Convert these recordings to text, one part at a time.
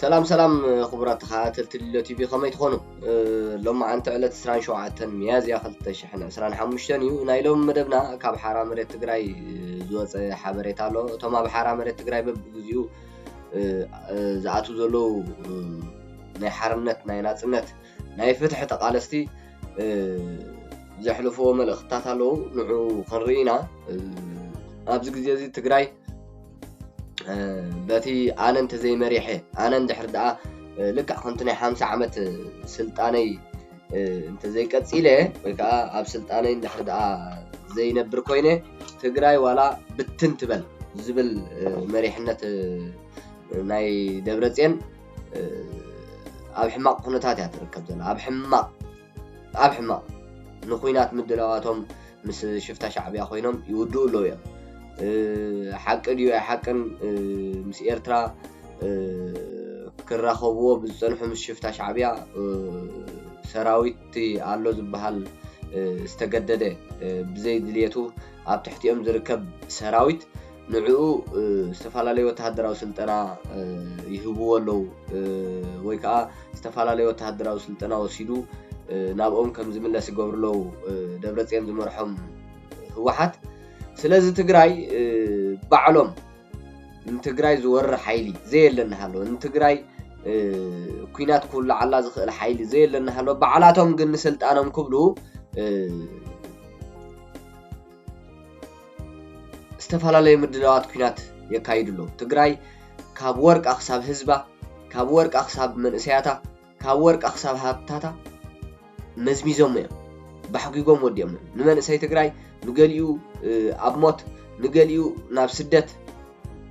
ሰላም ሰላም ክቡራት ተኸታተልቲ ልሎ ቲቪ ከመይ ትኾኑ ሎማዓንቲ ዕለት 2ሸተ ሚያዝያ 225 እዩ ናይ ሎም መደብና ካብ ሓራ መሬት ትግራይ ዝወፀ ሓበሬታ ኣሎ እቶም ኣብ ሓራ መሬት ትግራይ በብግዚኡ ዝኣት ዘለዉ ናይ ሓርነት ናይ ናፅነት ናይ ፍትሒ ተቃለስቲ ዘሕልፍዎ መልእክትታት ኣለዉ ንዑ ክንርኢ ኢና ኣብዚ ግዜ እዚ ትግራይ በቲ ኣነ እንተዘይ መሪሐ ኣነ እንድሕር ደኣ ልክዕ ከምቲ ናይ ሓምሳ ዓመት ስልጣነይ እንተዘይ ቀፂለ ወይ ከዓ ኣብ ስልጣነይ እንድሕር ደኣ ዘይነብር ኮይነ ትግራይ ዋላ ብትን ትበል ዝብል መሪሕነት ናይ ደብረፅዮን ኣብ ሕማቕ ኩነታት እያ ትርከብ ዘላ ኣብ ሕማቕ ኣብ ሕማቕ ንኩናት ምድላዋቶም ምስ ሽፍታ ሻዕብያ ኮይኖም ይውድኡ ኣለዉ እዮም ሓቂ ድዩ ኣይ ሓቅን ምስ ኤርትራ ክራኸብዎ ብዝፀንሑ ምስ ሽፍታ ሻዕብያ ሰራዊት ኣሎ ዝበሃል ዝተገደደ ብዘይ ድልየቱ ኣብ ትሕቲኦም ዝርከብ ሰራዊት ንዕኡ ዝተፈላለዩ ወተሃደራዊ ስልጠና ይህብዎ ኣለዉ ወይ ከኣ ዝተፈላለዩ ወተሃደራዊ ስልጠና ወሲዱ ናብኦም ከም ዝምለስ ይገብሩ ኣለዉ ደብረፅዮን ዝመርሖም ህወሓት ስለዚ ትግራይ ባዕሎም ንትግራይ ዝወርር ሓይሊ ዘየለ እናሃለወ ንትግራይ ኩናት ክውላዓላ ዝኽእል ሓይሊ ዘየለ እናሃለወ ባዕላቶም ግን ንስልጣኖም ክብሉ ዝተፈላለዩ ምድላዋት ኲናት የካይዱ ኣለዉ። ትግራይ ካብ ወርቃ ክሳብ ህዝባ፣ ካብ ወርቃ ክሳብ መንእሰያታ፣ ካብ ወርቃ ክሳብ ሃብታታ መዝሚዞሞ እዮም። ባሕጒጎም ወዲኦም እዮም። ንመንእሰይ ትግራይ ንገሊኡ ኣብ ሞት ንገሊኡ ናብ ስደት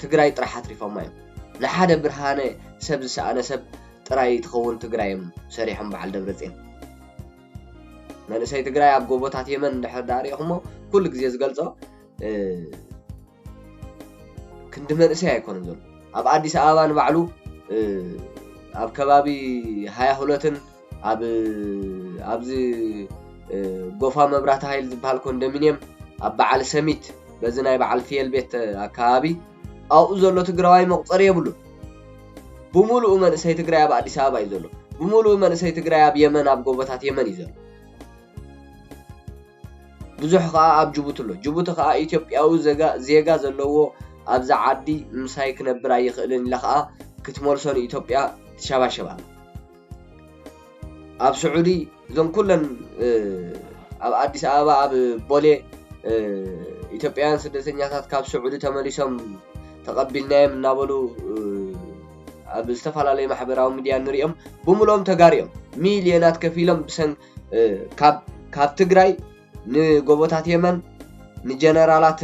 ትግራይ ጥራሕ ኣትሪፎማ እዮም። ንሓደ ብርሃነ ሰብ ዝሰኣነ ሰብ ጥራይ ትኸውን ትግራይ እዮም ሰሪሖም በዓል ደብረፅዮን። መንእሰይ ትግራይ ኣብ ጎቦታት የመን እንድሕር ዳኣ ሪኢኹሞ ኩሉ ግዜ ዝገልጾ ክንዲ መንእሰይ ኣይኮነን ዘሎ ኣብ ኣዲስ ኣበባ ንባዕሉ ኣብ ከባቢ ሃያ ሁለትን ኣብ ኣብዚ ጎፋ መብራቲ ሃይል ዝበሃል ኮንዶሚንየም ኣብ በዓል ሰሚት በዚ ናይ በዓል ፍየል ቤት ኣከባቢ ኣብኡ ዘሎ ትግራዋይ መቁፀሪ የብሉን ብሙሉኡ መንእሰይ ትግራይ ኣብ ኣዲስ ኣበባ እዩ ዘሎ ብሙሉኡ መንእሰይ ትግራይ ኣብ የመን ኣብ ጎቦታት የመን እዩ ዘሎ ብዙሕ ከዓ ኣብ ጅቡቲ ኣሎ ጅቡቲ ከዓ ኢትዮጵያዊ ዜጋ ዘለዎ ኣብዛ ዓዲ ምሳይ ክነብር ኣይኽእልን ኢላ ከዓ ክትመልሶ ንኢትዮጵያ ትሸባሸብ ኣላ ኣብ ስዑዲ እዞም ኩለን ኣብ ኣዲስ ኣበባ ኣብ ቦሌ ኢትዮጵያውያን ስደተኛታት ካብ ስዑዲ ተመሊሶም ተቐቢልናዮም እናበሉ ኣብ ዝተፈላለዩ ማሕበራዊ ሚድያ ንሪኦም ብምሎም ተጋሩ እዮም ሚልዮናት ከፊሎም ብሰን ካብ ትግራይ ንጎቦታት የመን ንጀነራላት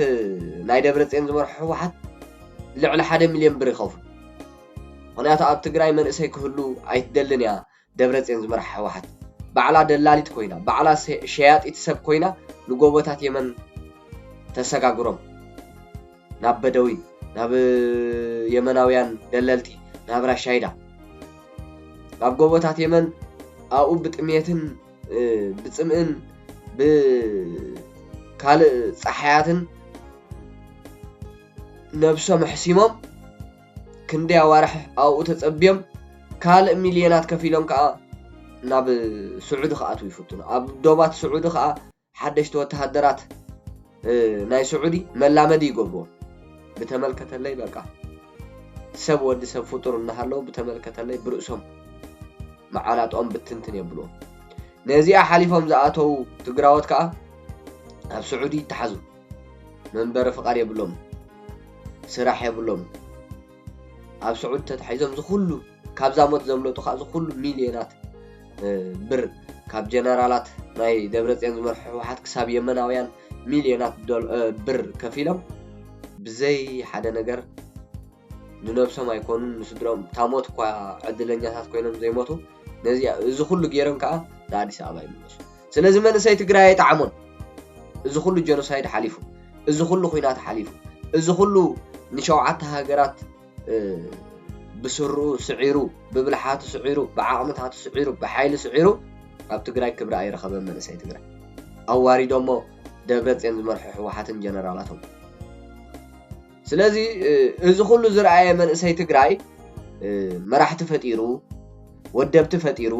ናይ ደብረፅዮን ዝመርሑ ህወሓት ልዕሊ ሓደ ሚልዮን ብር ይኸፍሉ ምክንያቱ ኣብ ትግራይ መንእሰይ ክህሉ ኣይትደልን እያ ደብረጼን ዝመርሓ ህወሓት ባዕላ ደላሊት ኮይና ባዕላ ሸያጢት ሰብ ኮይና ንጎቦታት የመን ተሰጋግሮም ናብ በደዊን ናብ የመናውያን ደለልቲ ናብ ራሻይዳ ናብ ጎቦታት የመን ኣብኡ ብጥምየትን ብፅምእን ብካልእ ፀሓያትን ነብሶም ኣሕሲሞም ክንደይ ኣዋርሕ ኣብኡ ተጸብዮም ካልእ ሚልዮናት ከፊሎም ከኣ ናብ ስዑዲ ክኣትዉ ይፍትኑ። ኣብ ዶባት ስዑዲ ከኣ ሓደሽቲ ወተሃደራት ናይ ስዑዲ መላመዲ ይገብርዎም። ብተመልከተለይ በቃ ሰብ ወዲ ሰብ ፍጡር እናሃለዉ ብተመልከተለይ ብርእሶም መዓናጥኦም ብትንትን የብልዎም። ነዚኣ ሓሊፎም ዝኣተዉ ትግራዎት ከኣ ኣብ ስዑዲ ይተሓዙ። መንበሪ ፍቃድ የብሎም ስራሕ የብሎም ኣብ ስዑድ ተታሒዞም ዝኩሉ ካብዛ ሞት ዘምለጡ ከዓ ዝኩሉ ሚልዮናት ብር ካብ ጀነራላት ናይ ደብረፅዮን ዝመርሑ ህወሓት ክሳብ የመናውያን ሚልዮናት ብር ከፊሎም ብዘይ ሓደ ነገር ንነብሶም ኣይኮኑን ንስድርኦም እታ ሞት እኳ ዕድለኛታት ኮይኖም ዘይሞቱ ነዚ እዚ ኩሉ ገይሮም ከዓ ንኣዲስ ኣበባ ይምለሱ ስለዚ መንእሰይ ትግራይ ኣይጠዓሞን እዚ ኩሉ ጀኖሳይድ ሓሊፉ እዚ ኩሉ ኩናት ሓሊፉ እዚ ኩሉ ንሸውዓተ ሃገራት ብስርኡ ስዒሩ ብብልሓቱ ስዒሩ ብዓቕምታቱ ስዒሩ ብሓይሊ ስዒሩ ኣብ ትግራይ ክብሪ ኣይረኸበን መንእሰይ ትግራይ ኣዋሪዶሞ ደብረፅዮን ዝመርሖ ህወሓትን ጀነራላቶም ስለዚ እዚ ኩሉ ዝረኣየ መንእሰይ ትግራይ መራሕቲ ፈጢሩ ወደብቲ ፈጢሩ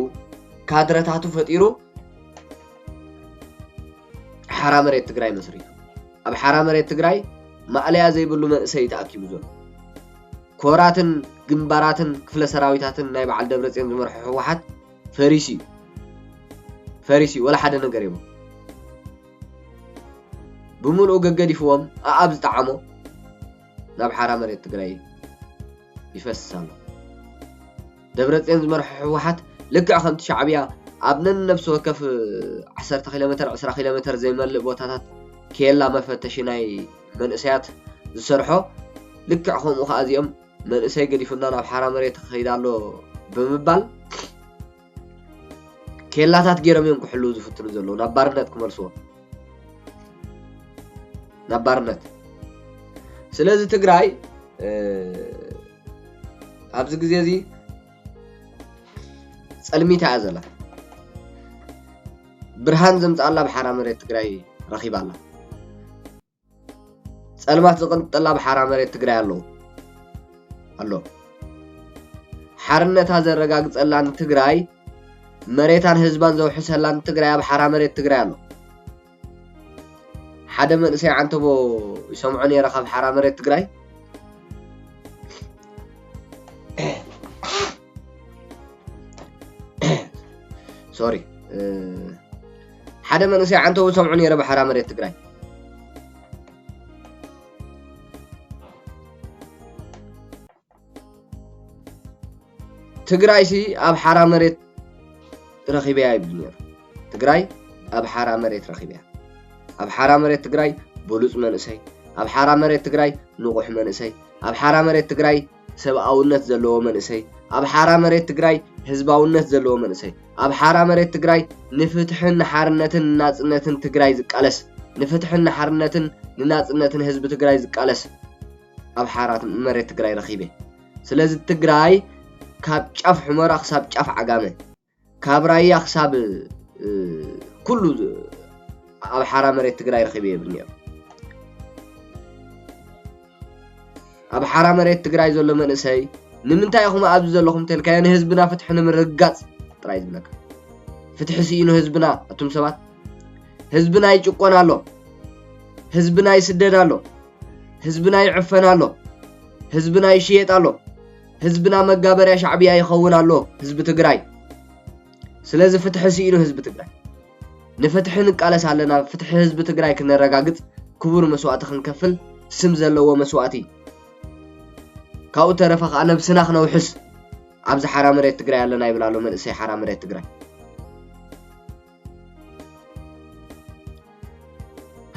ካድረታቱ ፈጢሩ ሓራ መሬት ትግራይ መስሪቱ ኣብ ሓራ መሬት ትግራይ ማእለያ ዘይብሉ መንእሰይ እዩ ተኣኪቡ ዘሎ ኮራትን ግንባራትን ክፍለ ሰራዊታትን ናይ በዓል ደብረፅዮን ዝመርሖ ህወሓት ፈሪሲ እዩ ፈሪሲ ወላ ሓደ ነገር የብሉ ብምልኡ ገገዲፍዎም ኣኣብ ዝጠዓሞ ናብ ሓራ መሬት ትግራይ ይፈስስ ኣሎ። ደብረፅዮን ዝመርሖ ህወሓት ልክዕ ከምቲ ሻዕብያ ኣብ ነነብሲ ወከፍ ዓሰርተ ኪሎ ሜተር ዕስራ ኪሎ ሜተር ዘይመልእ ቦታታት ኬላ መፈተሺ ናይ መንእሰያት ዝሰርሖ ልክዕ ከምኡ ከዓ እዚኦም መንእሰይ ገዲፉና ናብ ሓራ መሬት ክኸይድ ኣሎ ብምባል ኬላታት ጌሮም እዮም ክሕልዉ ዝፍትኑ ዘለዉ ናብ ባርነት ክመልስዎም ናብ ባርነት ስለዚ ትግራይ ኣብዚ ግዜ እዚ ጸልሚታ እያ ዘላ ብርሃን ዘምጽኣላ ብሓራ መሬት ትግራይ ረኺባ ኣላ ጸልማት ዝቕንጥጠላ ብሓራ መሬት ትግራይ ኣለዎ ኣሎ ሓርነታ ዘረጋግጸላን ትግራይ መሬታን ህዝባን ዘውሕሰላን ትግራይ ኣብ ሓራ መሬት ትግራይ ኣሎ ሓደ መንእሰይ ዓንተቦ ይሰምዖ ነይረ ካብ ሓራ መሬት ትግራይ ሶሪ ሓደ መንእሰይ ዓንተው ዝሰምዑ ነይረ ብሓራ መሬት ትግራይ ትግራይ ሲ ኣብ ሓራ መሬት ረኺበያ ይብል ነይሩ ትግራይ ኣብ ሓራ መሬት ረኺበያ ኣብ ሓራ መሬት ትግራይ ብሉፅ መንእሰይ ኣብ ሓራ መሬት ትግራይ ንቑሕ መንእሰይ ኣብ ሓራ መሬት ትግራይ ሰብኣውነት ዘለዎ መንእሰይ ኣብ ሓራ መሬት ትግራይ ህዝባውነት ዘለዎ መንእሰይ ኣብ ሓራ መሬት ትግራይ ንፍትሕን ንሓርነትን ንናፅነትን ትግራይ ዝቃለስ ንፍትሕን ንሓርነትን ንናፅነትን ህዝቢ ትግራይ ዝቃለስ ኣብ ሓራ መሬት ትግራይ ረኺበ ስለዚ ትግራይ ካብ ጫፍ ሑመራ ክሳብ ጫፍ ዓጋመ ካብ ራያ ክሳብ ኩሉ ኣብ ሓራ መሬት ትግራይ ረኺበ የብል ነይሩ ኣብ ሓራ መሬት ትግራይ ዘሎ መንእሰይ ንምንታይ ኢኹም ኣብዚ ዘለኹም ተልካዮ ንህዝብና ፍትሒ ንምርግጋፅ ጥራይ ዝብለካ ፍትሒ ስኢኑ ህዝብና እቱም ሰባት ህዝብና ይጭቆን ኣሎ ህዝብና ይስደድ ኣሎ ህዝብና ይዕፈን ኣሎ ህዝብና ይሽየጥ ኣሎ ህዝብና መጋበርያ ሻዕብያ ይኸውን ኣሎ ህዝቢ ትግራይ ስለዚ ፍትሒ ስኢኑ ህዝቢ ትግራይ ንፍትሒ ንቃለስ ኣለና ፍትሒ ህዝቢ ትግራይ ክነረጋግፅ ክቡር መስዋእቲ ክንከፍል ስም ዘለዎ መስዋእቲ ካብኡ ተረፈ ከዓ ነብስና ክነውሕስ ኣብዚ ሓራ መሬት ትግራይ ኣለና ይብል ኣሎ መንእሰይ ሓራ መሬት ትግራይ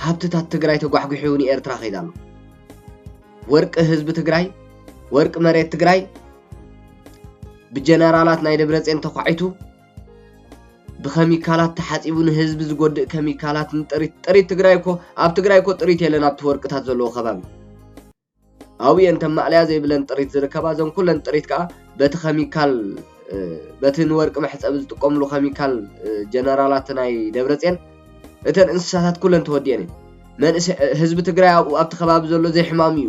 ሃብትታት ትግራይ ተጓሕጒሑ ንኤርትራ ከይድ ኣሎ። ወርቂ ህዝቢ ትግራይ፣ ወርቂ መሬት ትግራይ ብጀነራላት ናይ ደብረፅዮን ተኳዒቱ ብከሚካላት ተሓፂቡ ንህዝቢ ዝጎድእ ከሚካላት ንጥሪት ጥሪት ትግራይ እኮ ኣብ ትግራይ እኮ ጥሪት የለን ኣብቲ ወርቅታት ዘለዎ ከባቢ ኣብየን ከም ማእለያ ዘይብለን ጥሪት ዝርከባ እዘን ኩለን ጥሪት ከኣ በቲ ከሚካል በቲ ንወርቂ መሕፀቢ ዝጥቀምሉ ከሚካል ጀነራላት ናይ ደብረፅን እተን እንስሳታት ኩለን ተወዲኤን እዩ መንእሰ ህዝቢ ትግራይ ኣብኡ ኣብቲ ከባቢ ዘሎ ዘይሕማሙ እዩ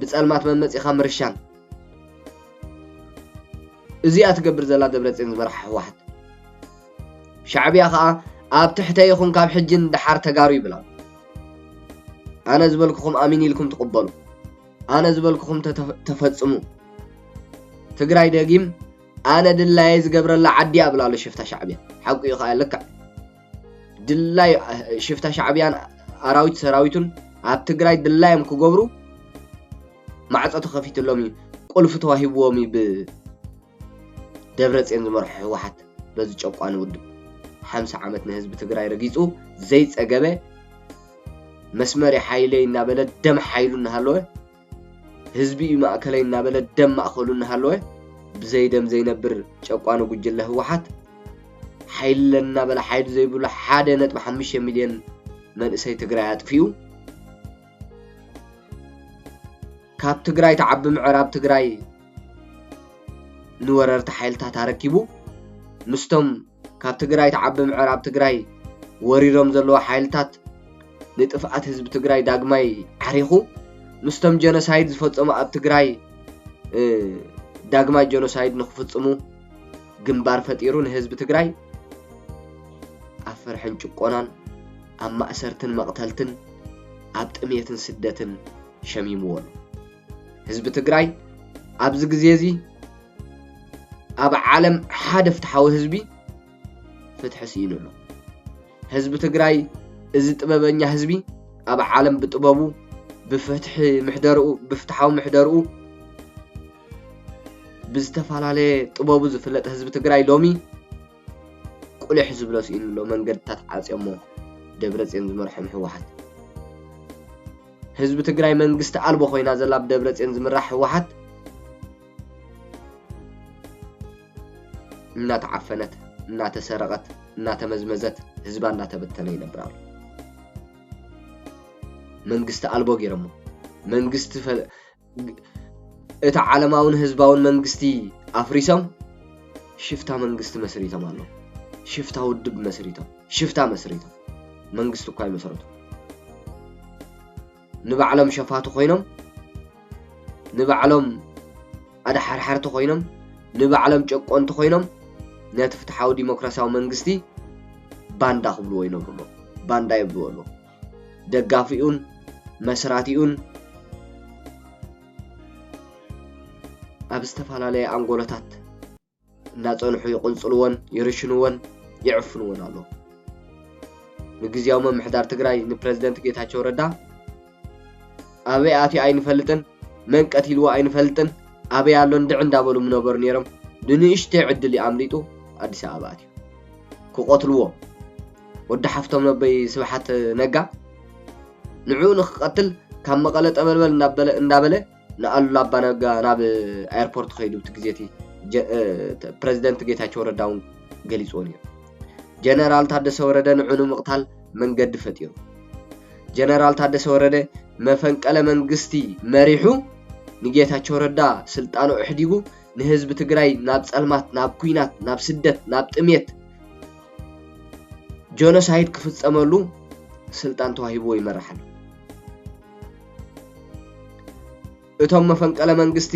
ብጸልማት መመጺኻ ምርሻን እዚኣ ትገብር ዘላ ደብረጽዮን ዝመርሓ ህወሓት ሻዕብያ ከኣ ኣብ ትሕተ ይኹን ካብ ሕጂ ንደሓር ተጋሩ ይብላ ኣነ ዝበልኩኹም ኣሚን ኢልኩም ትቕበሉ ኣነ ዝበልኩኹም ተፈጽሙ ትግራይ ደጊም ኣነ ድላየ ዝገብረላ ዓዲ ኣብላሉ ሽፍታ ሻዕብያ ሓቁ እዩ ከዓ ልክዕ ድላይ ሽፍታ ሻዕብያን ኣራዊት ሰራዊቱን ኣብ ትግራይ ድላዮም ክገብሩ ማዕፆ ተኸፊትሎም እዩ ቁልፊ ተዋሂብዎም እዩ ብደብረፅዮን ዝመርሑ ህወሓት በዚ ጨቋኒ ውድብ ሓምሳ ዓመት ንህዝቢ ትግራይ ረጊፁ ዘይፀገበ መስመሪ ሓይለይ እናበለ ደም ሓይሉ እናሃለወ ህዝቢ እዩ ማእከለይ እናበለ ደም ማእኸሉ እናሃለወ ብዘይ ደም ዘይነብር ጨቋኒ ጉጅለ ህወሓት ሓይሊ ኣለኒ እናበለ ሓይሊ ዘይብሉ ሓደ ነጥቢ ሓሙሽተ ሚልዮን መንእሰይ ትግራይ ኣጥፊኡ ካብ ትግራይ ተዓቢ ምዕራብ ትግራይ ንወረርቲ ሓይልታት ኣረኪቡ ምስቶም ካብ ትግራይ ትዓቢ ምዕራብ ትግራይ ወሪሮም ዘለዉ ሓይልታት ንጥፍኣት ህዝቢ ትግራይ ዳግማይ ዓሪኹ ምስቶም ጀኖሳይድ ዝፈፀሙ ኣብ ትግራይ ዳግማይ ጀኖሳይድ ንክፍፅሙ ግንባር ፈጢሩ ንህዝቢ ትግራይ ኣብ ፍርሕን ጭቆናን ኣብ ማእሰርትን መቕተልትን ኣብ ጥሜትን ስደትን ሸሚምዎ ኣሎ ህዝቢ ትግራይ ኣብዚ ግዜ እዚ ኣብ ዓለም ሓደ ፍትሓዊ ህዝቢ ፍትሒ ስኢኑ ኣሎ ህዝቢ ትግራይ እዚ ጥበበኛ ህዝቢ ኣብ ዓለም ብጥበቡ ብፍትሒ ምሕደርኡ ብፍትሓዊ ምሕደርኡ ብዝተፈላለየ ጥበቡ ዝፍለጥ ህዝቢ ትግራይ ሎሚ ቁሊሕ ዝብሎ ስኢኑ ኣሎ መንገድታት ዓጽዮሞ ደብረጽዮን ዝመርሖም ህወሓት። ህዝቢ ትግራይ መንግስቲ ኣልቦ ኮይና ዘላ ብደብረጽዮን ዝምራሕ ህወሓት እናተዓፈነት እናተሰረቐት እናተመዝመዘት ህዝባ እናተበተነ ይነብር ኣሎ። መንግስቲ ኣልቦ ገይሮሞ መንግስቲ እታ ዓለማውን ህዝባውን መንግስቲ ኣፍሪሶም ሽፍታ መንግስቲ መስሪቶም ኣለዉ። ሽፍታ ውድብ መስሪቶም ሽፍታ መስሪቶም መንግስቲ እኳ ኣይመሰረቱ ንባዕሎም ሸፋቱ ኮይኖም ንባዕሎም ኣድሓርሓርቲ ኮይኖም ንባዕሎም ጨቆንቲ ኮይኖም ነቲ ፍትሓዊ ዲሞክራሲያዊ መንግስቲ ባንዳ ክብልዎ ይነብሩ ኣለዉ ባንዳ የብልዎ ኣለዉ ደጋፊኡን መስራቲኡን ኣብ ዝተፈላለየ ኣንጎሎታት እናፀንሑ ይቕንፅልዎን ይርሽንዎን ይዕፍንዎን ኣሎ ንግዜያዊ ምምሕዳር ትግራይ ንፕረዚደንት ጌታቸው ረዳ ኣበይ ኣትዩ ኣይንፈልጥን መን ቀቲልዎ ኣይንፈልጥን ኣበይ ኣሎ እንድዕ እንዳበሉ ምነበሩ ነይሮም ብንእሽተይ ዕድል ኣምሊጡ ኣዲስ ኣበባ ኣትዩ ክቐትልዎ ወዲ ሓፍቶም ነበይ ስብሓት ነጋ ንዕኡ ንክቐትል ካብ መቐለ ጠበልበል እናበለ እንዳበለ ንኣሉላ ኣባ ነጋ ናብ ኣየርፖርት ከይዱ እቲ ግዜ እቲ ፕረዚደንት ጌታቸው ረዳ እውን ገሊፅዎ ነይሩ ጀነራል ታደሰ ወረደ ንዑ ንምቕታል መንገዲ ፈጢሩ ጀነራል ታደሰ ወረደ መፈንቀለ መንግስቲ መሪሑ ንጌታቸው ረዳ ስልጣኑ ኣሕዲጉ ንህዝቢ ትግራይ ናብ ጸልማት ናብ ኩናት ናብ ስደት ናብ ጥሜት ጆኖሳይድ ክፍጸመሉ ስልጣን ተዋሂብዎ ይመርሕ ኣሎ እቶም መፈንቀለ መንግስቲ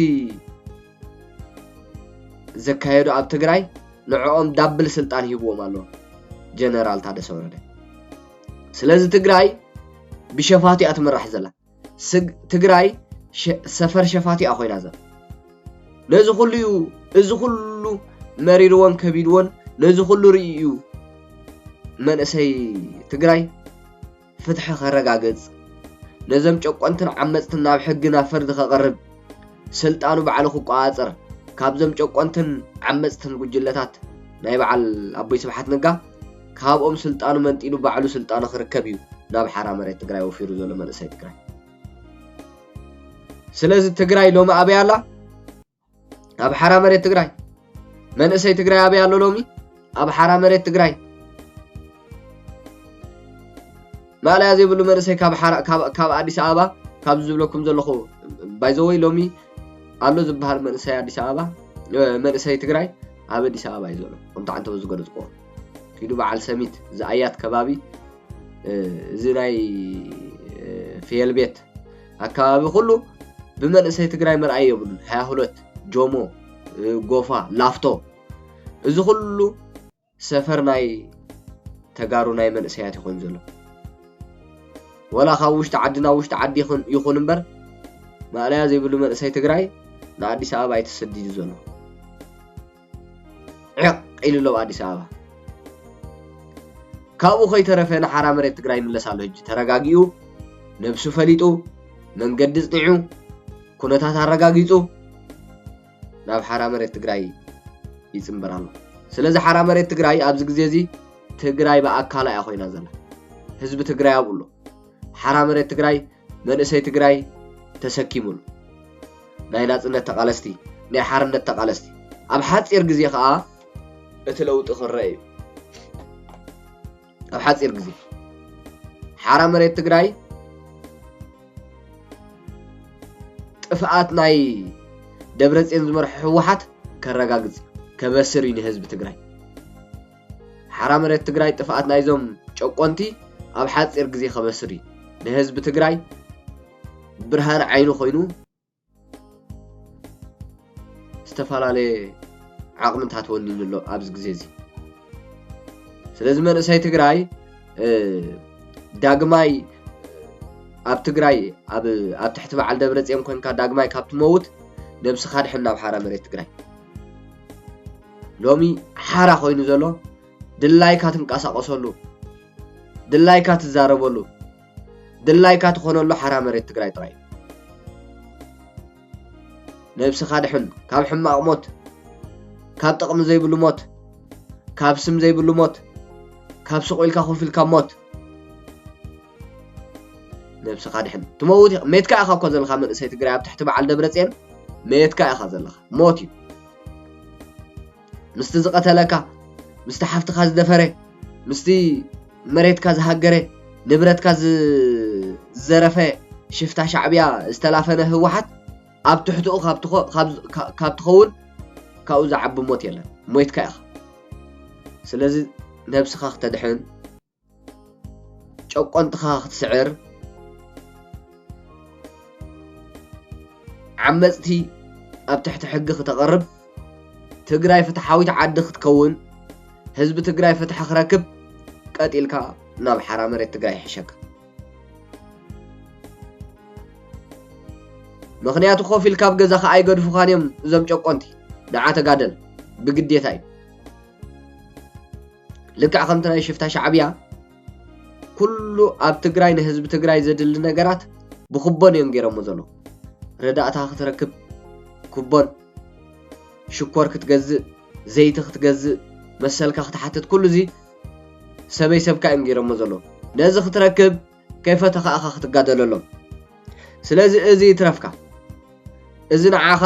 ዘካየዱ ኣብ ትግራይ ንዕኦም ዳብል ስልጣን ሂብዎም ኣሎ ጀነራል ታደሰ ወረደ ስለዚ ትግራይ ብሸፋቱ እያ ትምራሕ ዘላ ስግ ትግራይ ሰፈር ሸፋቱ እያ ኮይና ዘላ ነዚ ኩሉ እዩ እዚ ኩሉ መሪርዎን ከቢድዎን ነዚ ኩሉ ርእዩ እዩ መንእሰይ ትግራይ ፍትሒ ከረጋግፅ ነዘም ጨቆንትን ዓመፅትን ናብ ሕጊ ናብ ፍርዲ ከቕርብ ስልጣኑ ባዕሉ ክቆፃፀር ካብዞም ጨቆንትን ዓመፅትን ጉጅለታት ናይ በዓል ኣቦይ ስብሓት ነጋ ካብኦም ስልጣኑ መንጢሉ ባዕሉ ስልጣኑ ክርከብ እዩ ናብ ሓራ መሬት ትግራይ ወፊሩ ዘሎ መንእሰይ ትግራይ ስለዚ ትግራይ ሎሚ ኣበይ ኣላ ኣብ ሓራ መሬት ትግራይ መንእሰይ ትግራይ ኣበይ ኣሎ ሎሚ ኣብ ሓራ መሬት ትግራይ ማእለያ ዘይብሉ መንእሰይ ካብ ኣዲስ ኣበባ ካብዚ ዝብለኩም ዘለኹ ባይዘወይ ሎሚ ኣሎ ዝበሃል መንእሰይ ኣዲስ ኣበባ መንእሰይ ትግራይ ኣብ ኣዲስ ኣበባ እዩ ዘሎ ከምቲ ዓንተበ ዝገለፅኩዎ ኪዱ በዓል ሰሚት ዝኣያት ከባቢ እዚ ናይ ፍየል ቤት ኣከባቢ ኩሉ ብመንእሰይ ትግራይ መርኣይ የብሉን ሃያ ሁለት ጆሞ ጎፋ ላፍቶ እዚ ኩሉ ሰፈር ናይ ተጋሩ ናይ መንእሰያት ይኾን ዘሎ ወላ ካብ ውሽጢ ዓዲ ናብ ውሽጢ ዓዲ ይኹን እምበር ማእለያ ዘይብሉ መንእሰይ ትግራይ ንኣዲስ ኣበባ ኣይተሰዲዱ ዘሎ ዒቕ ኢሉ ኣሎ ኣዲስ ኣበባ። ካብኡ ከይተረፈ ንሓራ መሬት ትግራይ ይምለስ ኣሎ ሕጂ ተረጋጊኡ ነብሱ ፈሊጡ መንገዲ ጽኒዑ ኩነታት ኣረጋጊጹ ናብ ሓራ መሬት ትግራይ ይጽምበር ኣሎ ስለዚ ሓራ መሬት ትግራይ ኣብዚ ግዜ እዚ ትግራይ ብኣካላ እያ ኮይና ዘላ ህዝቢ ትግራይ ኣብኡ ኣሎ ሓራ መሬት ትግራይ መንእሰይ ትግራይ ተሰኪሙሉ ናይ ናጽነት ተቃለስቲ ናይ ሓርነት ተቃለስቲ ኣብ ሓጺር ግዜ ከኣ እቲ ለውጢ ክረእ እዩ ኣብ ሓጺር ግዜ ሓራ መሬት ትግራይ ጥፍኣት ናይ ደብረጽዮን ዝመርሖ ህወሓት ከረጋግጽ ከበስር እዩ ንህዝቢ ትግራይ ሓራ መሬት ትግራይ ጥፍኣት ናይዞም ጨቆንቲ ኣብ ሓፂር ግዜ ከበስር እዩ ንህዝቢ ትግራይ ብርሃን ዓይኑ ኮይኑ ዝተፈላለየ ዓቕምታት ወኒኑ ኣሎ ኣብዚ ግዜ እዚ ስለዚ መንእሰይ ትግራይ ዳግማይ ኣብ ትግራይ ኣብ ትሕቲ በዓል ደብረፅዮን ኮንካ ዳግማይ ካብ ትመውት ነብስኻ ድሕን ናብ ሓራ መሬት ትግራይ ሎሚ ሓራ ኮይኑ ዘሎ ድላይካ ትንቀሳቀሰሉ ድላይካ ትዛረበሉ ድላይካ ትኾነሉ ሓራ መሬት ትግራይ ጥራይ እዩ ነብስኻ ድሕን ካብ ሕማቕ ሞት ካብ ጥቕሚ ዘይብሉ ሞት ካብ ስም ዘይብሉ ሞት ካብ ስቑኢልካ ኮፍ ኢልካ ሞት ነብስኻ ድሕን ትመውት ኢኻ ሜትካ ኢኻ እኮ ዘለኻ መንእሰይ ትግራይ ኣብ ትሕቲ በዓል ደብረፅዮን ሜትካ ኢኻ ዘለኻ ሞት እዩ ምስቲ ዝቐተለካ ምስቲ ሓፍትኻ ዝደፈረ ምስቲ መሬትካ ዝሃገረ ንብረትካ ዝዘረፈ ሽፍታ ሻዕብያ ዝተላፈነ ህወሓት ኣብ ትሕትኡ ካብ ትኸውን ካብኡ ዝዓቢ ሞት የለን ሞይትካ ኢኻ ስለዚ ነብስኻ ክተድሕን ጨቆንትኻ ክትስዕር፣ ዓመፅቲ ኣብ ትሕቲ ሕጊ ክተቕርብ፣ ትግራይ ፍትሓዊት ዓዲ ክትከውን፣ ህዝቢ ትግራይ ፍትሒ ክረክብ ቀጥ ኢልካ ናብ ሓራ መሬት ትግራይ ይሕሸካ። ምክንያቱ ኮፍ ኢልካ ኣብ ገዛኻ ኣይገድፉኻን እዮም እዞም ጨቆንቲ ንዓ ተጋደል ብግዴታ እዩ ልክዕ ከምቲ ናይ ሽፍታ ሻዕብያ ኩሉ ኣብ ትግራይ ንህዝቢ ትግራይ ዘድሊ ነገራት ብኩቦን እዮም ገይሮሞ ዘለዉ ረዳእታ ክትረክብ ኩቦን ሽኮር ክትገዝእ ዘይቲ ክትገዝእ መሰልካ ክትሓትት ኩሉ እዚ ሰበይ ሰብካ እዮም ገይሮሞ ዘለዉ ነዚ ክትረክብ ከይፈተኻ ኢኻ ክትጋደለሎም ስለዚ እዚ ይትረፍካ እዚ ንዓኻ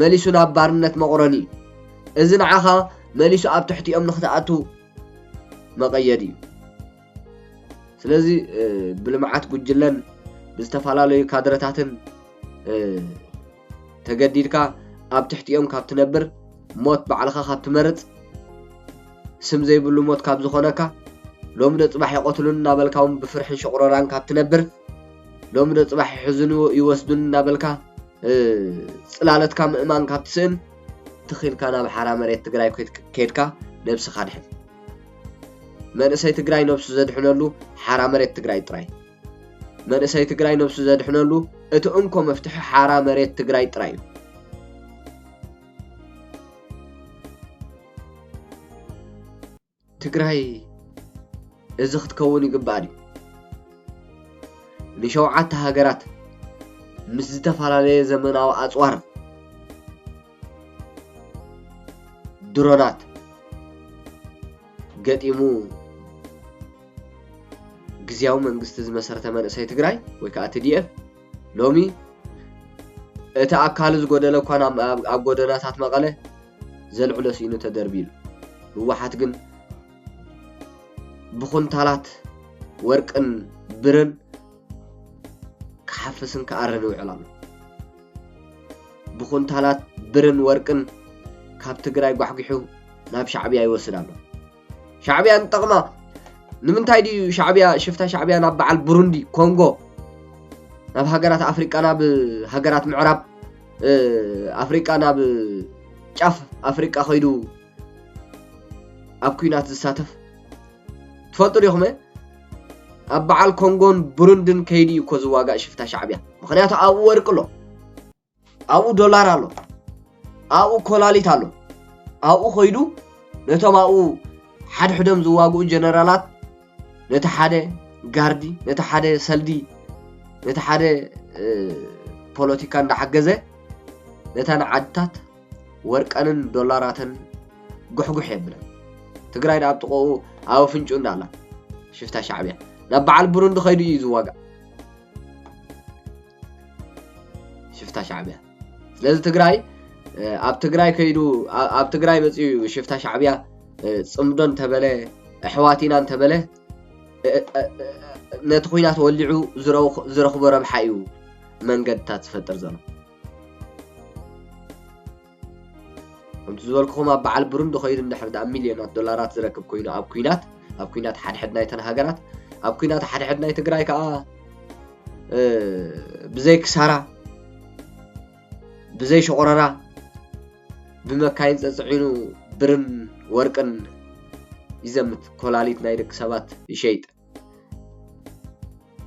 መሊሱ ናብ ባርነት መቑረኒ እዚ ንዓኻ መሊሱ ኣብ ትሕቲኦም ንክትኣቱ መቐየድ እዩ ስለዚ ብልምዓት ጉጅለን ብዝተፈላለዩ ካድረታትን ተገዲድካ ኣብ ትሕቲኦም ካብ ትነብር ሞት ባዕልኻ ካብ ትመርጽ ስም ዘይብሉ ሞት ካብ ዝኾነካ ሎሚ ዶ ጽባሕ ይቐትሉን እናበልካ እውን ብፍርሕን ሸቑረራን ካብ ትነብር ሎሚ ዶ ጽባሕ ይሕዝኑ ይወስዱን እናበልካ ጽላለትካ ምእማን ካብ ትስእን ትኺልካ ናብ ሓራ መሬት ትግራይ ከድካ ነብስኻ ድሕን። መንእሰይ ትግራይ ነብሱ ዘድሕነሉ ሓራ መሬት ትግራይ ጥራይ። መንእሰይ ትግራይ ነብሱ ዘድሕነሉ እቲ እንኮ መፍትሒ ሓራ መሬት ትግራይ ጥራይ እዩ። ትግራይ እዚ ክትከውን ይግባኣ ድዩ? ንሸውዓተ ሃገራት ምስ ዝተፈላለየ ዘመናዊ ኣፅዋር ድሮናት ገጢሙ ግዝያዊ መንግስቲ ዝመሰረተ መንእሰይ ትግራይ ወይ ከዓ ትዲኤፍ ሎሚ እቲ ኣካሉ ዝጎደለ እኳ ኣብ ጎደናታት መቐለ ዘልዕሎ ስኢኑ ተደርቢሉ ህወሓት ግን ብኩንታላት ወርቅን ብርን ክሓፍስን ክኣርን ይውዕል ኣሎ። ብኹንታላት ብርን ወርቅን ካብ ትግራይ ጓሕጒሑ ናብ ሻዕብያ ይወስድ ኣሎ። ሻዕብያ ንጠቕማ ንምንታይ ድዩ ሻዕብያ ሽፍታ ሻዕብያ ናብ በዓል ብሩንዲ ኮንጎ ናብ ሃገራት ኣፍሪቃ ናብ ሃገራት ምዕራብ ኣፍሪቃ ናብ ጫፍ ኣፍሪቃ ከይዱ ኣብ ኩናት ዝሳተፍ ትፈልጡ ዲኹም ኣብ በዓል ኮንጎን ብሩንድን ከይዲ እዩ እኮ ዝዋጋእ ሽፍታ ሻዕብያ ምክንያቱ ኣብኡ ወርቂ ኣሎ ኣብኡ ዶላር ኣሎ ኣብኡ ኮላሊት ኣሎ ኣብኡ ኮይዱ ነቶም ኣብኡ ሓድሕዶም ዝዋግኡ ጀነራላት ነቲ ሓደ ጋርዲ ነቲ ሓደ ሰልዲ ነቲ ሓደ ፖለቲካ እንዳሓገዘ ነተን ዓድታት ወርቀንን ዶላራትን ጉሕጉሕ የብለን ትግራይ ዳኣብ ጥቆኡ ኣብ ኣፍንጭኡ እንዳ ኣላ ሽፍታ ሻዕብያ ናብ በዓል ብሩንዲ ከይዱ እዩ ዝዋጋእ ሽፍታ ሻዕብያ ስለዚ ትግራይ ኣብ ትግራይ ከይዱ ኣብ ትግራይ መፅኡ እዩ ሽፍታ ሻዕብያ ፅምዶ እንተበለ ኣሕዋት ኢና እንተበለ ነቲ ኩናት ወሊዑ ዝረኽቦ ረብሓ እዩ መንገድታት ዝፈጥር ዘሎ ከምቲ ዝበልኩኹም ኣብ በዓል ብሩንዲ ኮይኑ እንድሕር ደኣ ሚልዮናት ዶላራት ዝረክብ ኮይኑ ኣብ ኩናት ኣብ ኩናት ሓድሕድ ናይተን ሃገራት ኣብ ኩናት ሓድሕድ ናይ ትግራይ ከዓ ብዘይ ክሳራ ብዘይ ሸቆረራ ብመካይን ፀፅዒኑ ብርን ወርቅን ይዘምት ኮላሊት ናይ ደቂ ሰባት ይሸይጥ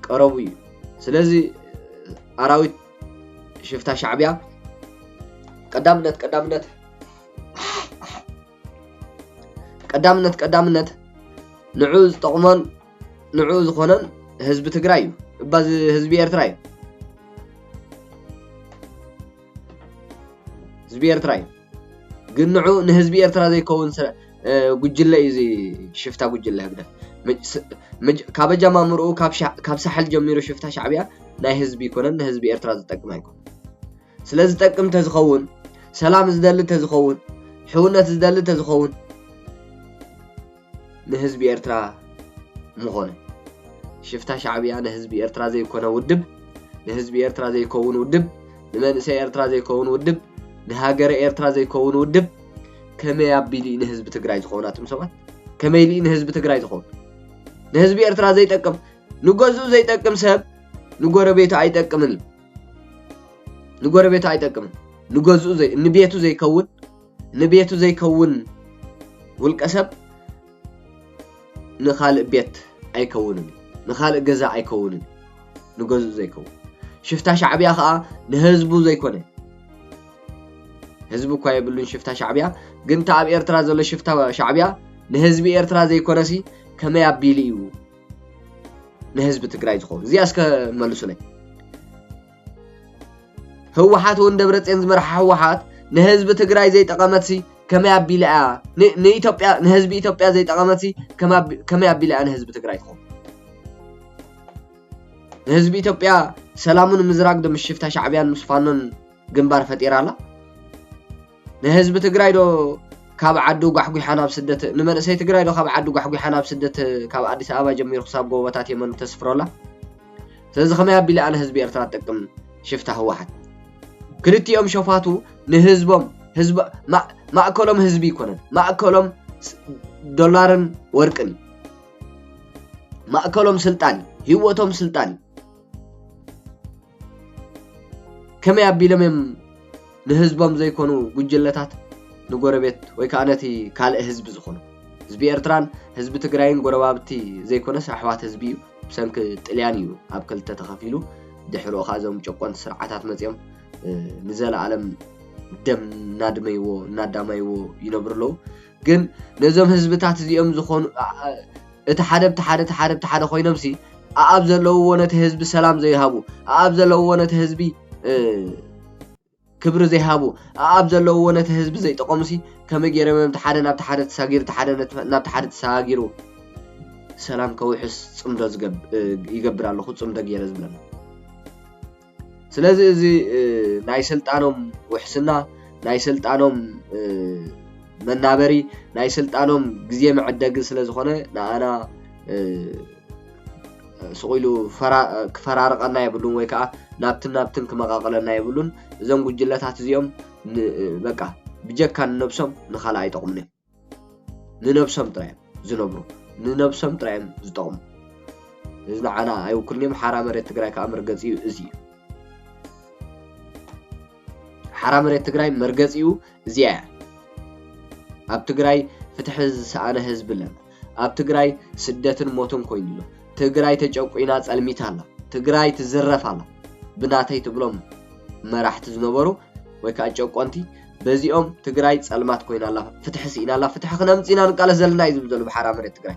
ቀረቡ እዩ ስለዚ ኣራዊት ሽፍታ ሻዕብያ ቀዳምነት ቀዳምነት ቀዳምነት ቀዳምነት ንዑ ዝጠቕሞን ንዑ ዝኾነን ህዝቢ ትግራይ እዩ እባ ህዝቢ ኤርትራ እዩ ህዝቢ ኤርትራ እዩ ግን ንዑ ንህዝቢ ኤርትራ ዘይከውን ጉጅለ እዩ እዚ ሽፍታ ጉጅለ ህግደፍ ካብ ኣጀማምርኡ ካብ ሳሕል ጀሚሩ ሽፍታ ሻዕብያ ናይ ህዝቢ ይኮነን ንህዝቢ ኤርትራ ዝጠቅም ኣይኮነ ስለ ዝጠቅም ተዝኸውን ሰላም ዝደሊ ተዝኸውን ሕውነት ዝደሊ ተዝኸውን ንህዝቢ ኤርትራ ምኾነ። ሽፍታ ሻዕብያ ንህዝቢ ኤርትራ ዘይኮነ ውድብ፣ ንህዝቢ ኤርትራ ዘይከውን ውድብ፣ ንመንእሰይ ኤርትራ ዘይከውን ውድብ፣ ንሃገረ ኤርትራ ዘይከውን ውድብ፣ ከመይ ኣቢሉ እዩ ንህዝቢ ትግራይ ዝኸውን ኣቱም ሰባት? ከመይ ኢሉ እዩ ንህዝቢ ትግራይ ዝኸውን? ንህዝቢ ኤርትራ ዘይጠቅም ንገዝኡ ዘይጠቅም ሰብ ንጎረቤቱ ኣይጠቅምን እዩ። ንጎረቤቱ ኣይጠቅምን ንገዝኡ ንቤቱ ዘይከውን ንቤቱ ዘይከውን ውልቀ ሰብ ንኻልእ ቤት ኣይከውንን እዩ፣ ንኻልእ ገዛ ኣይከውንን እዩ፣ ንገዝኡ ዘይከውን ሽፍታ ሻዕብያ ከዓ ንህዝቡ ዘይኮነ ህዝቢ እኳ የብሉን ሽፍታ ሻዕብያ ግን እቲ ኣብ ኤርትራ ዘሎ ሽፍታ ሻዕብያ ንህዝቢ ኤርትራ ዘይኮነሲ ከመይ ኣቢሉ እዩ ንህዝቢ ትግራይ ዝኸውን እዚኣ እስከ መልሱለይ ህወሓት እውን ደብረፅዮን ዝመርሓ ህወሓት ንህዝቢ ትግራይ ዘይጠቐመትሲ ከመይ ኣቢላ እያ ንኢትዮጵያ ንህዝቢ ኢትዮጵያ ዘይጠቐመትሲ ከመይ ኣቢላ እያ ንህዝቢ ትግራይ ትኾን ንህዝቢ ኢትዮጵያ ሰላሙ ንምዝራግ ዶ ምስ ሽፍታ ሻዕብያን ምስ ፋኖን ግንባር ፈጢራ ኣላ ንህዝቢ ትግራይ ዶ ካብ ዓዱ ጓሕጒሓ ናብ ስደት ንመንእሰይ ትግራይ ዶ ካብ ዓዱ ጓሕጒሓ ናብ ስደት ካብ ኣዲስ ኣበባ ጀሚሩ ክሳብ ጎቦታት የመን ተስፍሮ ኣላ ስለዚ ከመይ ኣቢለ ኣነ ህዝቢ ኤርትራ ጠቅም ሽፍታ ህወሓት ክልቲኦም ሸፋቱ ንህዝቦም ህዝብ ማእከሎም ህዝቢ ይኮነን ማእከሎም ዶላርን ወርቅን ማእከሎም ስልጣን ህይወቶም ስልጣን ከመይ ኣቢሎም እዮም ንህዝቦም ዘይኮኑ ጉጅለታት ንጎረቤት ወይ ከዓ ነቲ ካልእ ህዝቢ ዝኾኑ? ህዝቢ ኤርትራን ህዝቢ ትግራይን ጎረባብቲ ዘይኮነስ ኣሕዋት ህዝቢ እዩ። ብሰንኪ ጥልያን እዩ ኣብ ክልተ ተኸፊሉ። ድሕሪኡ ከዓ እዞም ጨቆንቲ ስርዓታት መፂኦም ንዘለኣለም ደም እናድመይዎ እናዳማይዎ ይነብሩ ኣለዉ። ግን ነዞም ህዝብታት እዚኦም ዝኾኑ እቲ ሓደ ብቲ ሓደ እቲ ሓደ ብቲ ሓደ ኮይኖምሲ ኣኣብ ዘለውዎ ነቲ ህዝቢ ሰላም ዘይሃቡ ኣኣብ ዘለውዎ ነቲ ህዝቢ ክብሪ ዘይሃቡ ኣኣብ ዘለውዎ ነቲ ህዝቢ ዘይጠቐሙሲ ከመይ ገይሮም እዮም ሓደ ናብቲ ሓደ ተሳጊሩ እቲ ሓደ ናብቲ ሓደ ተሳጊሩ ሰላም ከውሕስ ፅምዶ ይገብር ኣለኹ ፅምዶ ገይረ ዝብለና ስለዚ እዚ ናይ ስልጣኖም ውሕስና ናይ ስልጣኖም መናበሪ ናይ ስልጣኖም ግዜ መዐደጊ ስለ ዝኾነ ንኣና ስቕ ኢሉ ክፈራርቐና የብሉን ወይ ከዓ ናብትን ናብትን ክመቓቕለና የብሉን። እዞም ጉጅለታት እዚኦም በቃ ብጀካ ንነብሶም ንኻልእ ኣይጠቕሙን እዮም። ንነብሶም ጥራይ እዮም ዝነብሩ ንነብሶም ጥራይ እዮም ዝጠቅሙ እዚ ንዓና ኣይውክልን እዮም ሓራ መሬት ትግራይ ከዓ መርገፂኡ እዚ እዩ ሓራ መሬት ትግራይ መርገፂኡ እዚኣ እያ ኣብ ትግራይ ፍትሒ ዝሰኣነ ህዝቢ ኣለና ኣብ ትግራይ ስደትን ሞትን ኮይኑ ኣሎ ትግራይ ተጨቁና ፀልሚታ ኣላ ትግራይ ትዝረፍ ኣላ ብናተይ ትብሎም መራሕቲ ዝነበሩ ወይ ከዓ ጨቆንቲ በዚኦም ትግራይ ፀልማት ኮይና ኣላ ፍትሒ ስኢና ኣላ ፍትሒ ክነምፅ ኢና ንቃለስ ዘለና እዩ ዝብል ዘሎ ብሓራ መሬት ትግራይ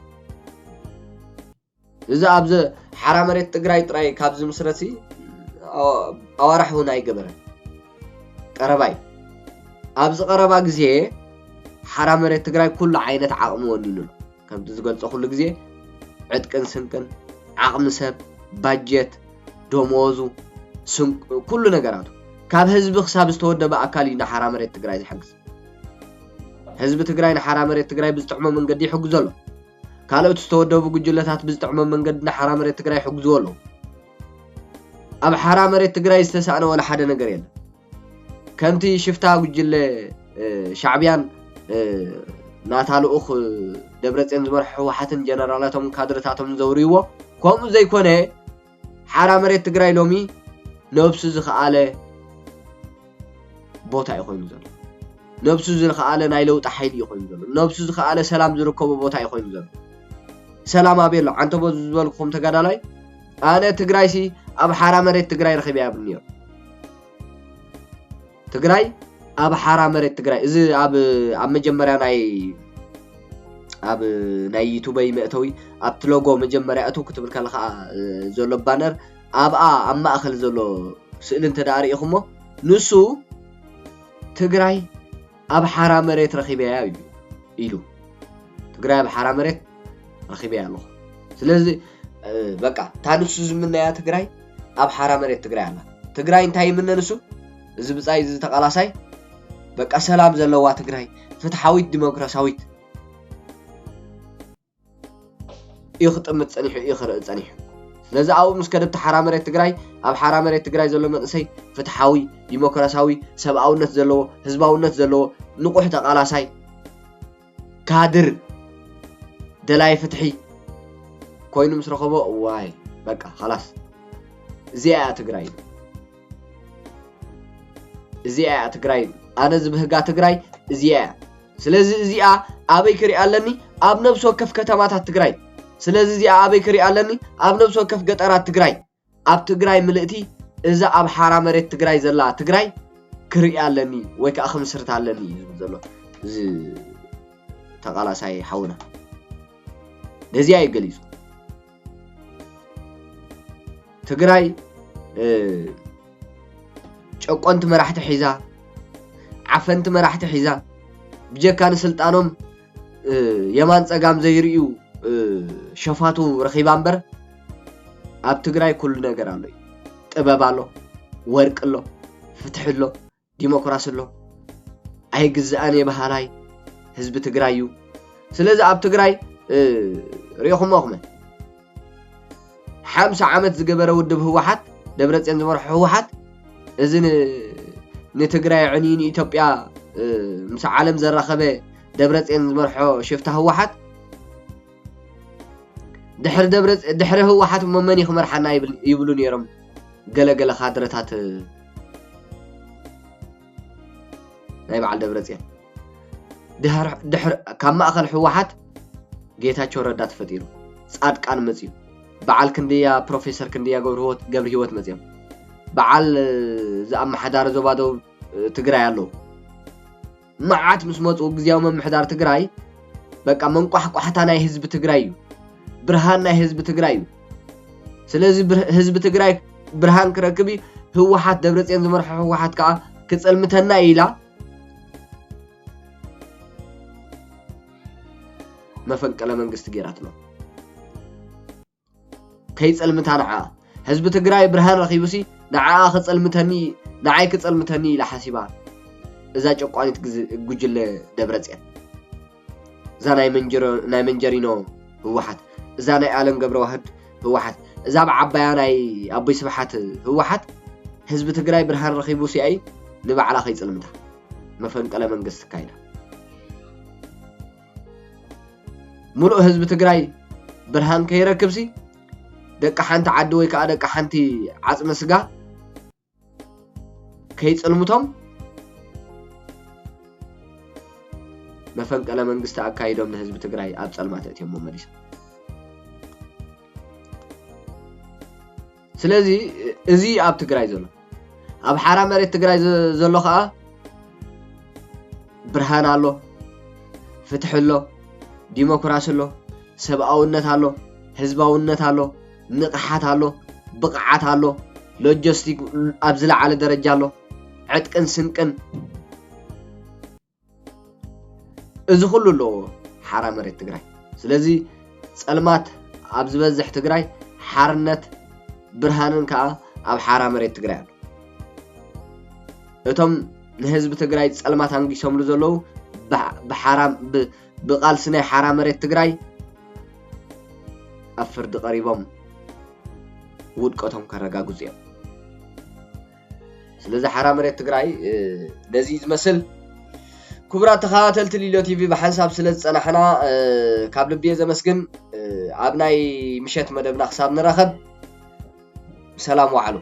እዚ ኣብዚ ሓራ መሬት ትግራይ ጥራይ ካብ ዝምስረት ኣዋራሕ እውን ኣይገበረን ቀረባ እዩ ኣብዚ ቀረባ ግዜ ሓራ መሬት ትግራይ ኩሉ ዓይነት ዓቕሚ ወኒኑ ኣሎ ከምቲ ዝገልፆ ኩሉ ግዜ ዕጥቅን ስንቅን ዓቕሚ ሰብ ባጀት ደመወዙ ኩሉ ነገራቱ ካብ ህዝቢ ክሳብ ዝተወደበ ኣካል እዩ ንሓራ መሬት ትግራይ ዝሕግዝ ህዝቢ ትግራይ ንሓራ መሬት ትግራይ ብዝጥዕሞ መንገዲ ይሕግዞ ኣሎ ካልኦት ዝተወደቡ ጉጅለታት ብዝጥዕሞ መንገዲ ንሓራ መሬት ትግራይ ይሕግዝዎ ኣለዉ ኣብ ሓራ መሬት ትግራይ ዝተሳእነ ወላ ሓደ ነገር የለን ከምቲ ሽፍታ ጉጅለ ሻዕቢያን ናታ ልኡኽ ደብረፅዮን ዝመርሖ ህወሓትን ጀነራላቶምን ካድረታቶምን ዘውርይዎ ከምኡ ዘይኮነ ሓራ መሬት ትግራይ ሎሚ ነብሱ ዝኸኣለ ቦታ እዩ ኮይኑ ዘሎ ነብሱ ዝኸኣለ ናይ ለውጢ ሓይሊ እዩ ኮይኑ ዘሎ ነብሱ ዝኸኣለ ሰላም ዝርከቦ ቦታ እዩ ኮይኑ ዘሎ ሰላም ኣበይ ኣሎ ዓንተቦ ዝበልኩም ተጋዳላይ ኣነ ትግራይሲ ኣብ ሓራ መሬት ትግራይ ረኺበ ያብልኒ እዮም ትግራይ ኣብ ሓራ መሬት ትግራይ እዚ ኣብ ኣብ መጀመርያ ናይ ኣብ ናይ ዩቱበይ መእተዊ ኣብቲ ሎጎ መጀመርያ እቱ ክትብል ከለካ ዘሎ ባነር ኣብኣ ኣብ ማእከል ዘሎ ስእሊ እንተ ርኢኹሞ ንሱ ትግራይ ኣብ ሓራ መሬት ረኺበያ እዩ ኢሉ ትግራይ ኣብ ሓራ መሬት ረኺበያ ኣለኹ ስለዚ በቃ እታ ንሱ ዝምነያ ትግራይ ኣብ ሓራ መሬት ትግራይ ኣላ ትግራይ እንታይ ይምነ ንሱ እዚ ብፃይ እዚ ተቃላሳይ በቃ ሰላም ዘለዋ ትግራይ ፍትሓዊት ዲሞክራሲያዊት እዩ ክጥምት ጸኒሑ እዩ ክርኢ ጸኒሑ ስለዚ ኣብኡ ምስ ከደብቲ ሓራ መሬት ትግራይ ኣብ ሓራ መሬት ትግራይ ዘሎ መንእሰይ ፍትሓዊ ዲሞክራሲያዊ ሰብኣውነት ዘለዎ ህዝባውነት ዘለዎ ንቑሕ ተቓላሳይ ካድር ደላይ ፍትሒ ኮይኑ ምስ ረኸቦ ዋይ በቃ ኸላስ እዚኣ እያ ትግራይ እዚኣ እያ ትግራይ ኣነ ዝብህጋ ትግራይ እዚኣ እያ ስለዚ እዚኣ ኣበይ ክሪኣ ኣለኒ ኣብ ነብሲ ወከፍ ከተማታት ትግራይ ስለዚ እዚኣ ኣበይ ክሪኣ ኣለኒ ኣብ ነብሲ ወከፍ ገጠራት ትግራይ ኣብ ትግራይ ምልእቲ እዛ ኣብ ሓራ መሬት ትግራይ ዘላ ትግራይ ክሪኣ ኣለኒ ወይ ከዓ ክምስርት ኣለኒ እዩ ዝብል ዘሎ እዚ ተቃላሳይ ሓውና ነዚኣ እዩ ገሊፁ ትግራይ ጨቆንቲ መራሕቲ ሒዛ ዓፈንቲ መራሕቲ ሒዛ ብጀካ ንስልጣኖም የማን ፀጋም ዘይርእዩ ሸፋቱ ረኺባ እምበር ኣብ ትግራይ ኩሉ ነገር ኣሎ እዩ ጥበብ ኣሎ ወርቂ ኣሎ ፍትሒ ኣሎ ዲሞክራሲ ኣሎ ኣይግዛእን እየ በሃላይ ህዝቢ ትግራይ እዩ ስለዚ ኣብ ትግራይ ሪኦኹሞ ኹመ ሓምሳ ዓመት ዝገበረ ውድብ ህወሓት ደብረፅዮን ዝመርሖ ህወሓት እዚ ንትግራይ ዕኒ ንኢትዮጵያ ምስ ዓለም ዘራኸበ ደብረፅዮን ዝመርሖ ሽፍታ ህወሓት ድሕሪ ደብረ ድሕሪ ህወሓት እሞ መን እዩ ክመርሓና ይብሉ ነይሮም ገለገለ ካድረታት ናይ በዓል ደብረፅዮን ካብ ማእኸል ህወሓት ጌታቸው ረዳ ተፈጢሩ ፃድቃን መፅዩ በዓል ክንድያ ፕሮፌሰር ክንድያ ገብሪ ህይወት መፅዮም በዓል ዝኣመሓዳሪ ዞባ ደቡብ ትግራይ ኣለዉ መዓት ምስ መፁ ግዝያዊ ምምሕዳር ትግራይ በቃ መንቋሕቋሕታ ናይ ህዝቢ ትግራይ እዩ ብርሃን ናይ ህዝቢ ትግራይ እዩ ስለዚ ህዝቢ ትግራይ ብርሃን ክረክብ እዩ ህወሓት ደብረፅዮን ዝመርሖ ህወሓት ከዓ ክፀልምተና ኢላ መፈንቅለ መንግስቲ ገይራትሎም ከይጸልምታ ንዓኣ ህዝቢ ትግራይ ብርሃን ረኺቡሲ ንዓኣ ክጸልምተኒ ንዓይ ክጸልምተኒ ኢላ ሓሲባ እዛ ጨቋኒት ጉጅለ ደብረጽዮን እዛ ናይ መንጀሮ ናይ መንጀሪኖ ህወሓት እዛ ናይ ኣለም ገብረዋህድ ህወሓት እዛ ኣብ ዓባያ ናይ ኣቦይ ስብሓት ህወሓት ህዝቢ ትግራይ ብርሃን ረኺቡ ሲኣይ ንባዕላ ከይፅልምታ መፈንቀለ መንግስቲ ካይዳ ሙሉእ ህዝቢ ትግራይ ብርሃን ከይረክብ ሲ ደቂ ሓንቲ ዓዲ ወይ ከዓ ደቂ ሓንቲ ዓፅሚ ስጋ ከይፅልምቶም መፈንቀለ መንግስቲ ኣካይዶም ንህዝቢ ትግራይ ኣብ ፀልማት ኣእትዮሞ መሊሶም ስለዚ እዚ እዩ ኣብ ትግራይ ዘሎ ኣብ ሓራ መሬት ትግራይ ዘሎ ከዓ ብርሃን ኣሎ ፍትሒ ኣሎ ዲሞክራሲ ኣሎ ሰብኣውነት ኣሎ ህዝባውነት ኣሎ ንቕሓት ኣሎ ብቕዓት ኣሎ ሎጀስቲክ ኣብ ዝለዓለ ደረጃ ኣሎ ዕጥቅን ስንቅን እዚ ኩሉ ኣሎ ሓራ መሬት ትግራይ ስለዚ ፀልማት ኣብ ዝበዝሕ ትግራይ ሓርነት ብርሃንን ከዓ ኣብ ሓራ መሬት ትግራይ ኣሎ እቶም ንህዝቢ ትግራይ ፀልማት ኣንጊሶምሉ ዘለዉ ብቃልሲ ናይ ሓራ መሬት ትግራይ ኣብ ፍርዲ ቀሪቦም ውድቀቶም ከረጋግፁ እዮም ስለዚ ሓራ መሬት ትግራይ ነዚ ዝመስል ክቡራት ተኸታተልቲ ሊሎ ቲቪ ብሓንሳብ ስለ ዝፀናሕና ካብ ልብየ ዘመስግን ኣብ ናይ ምሸት መደብና ክሳብ ንራኸብ ሰላም ዋዕሉ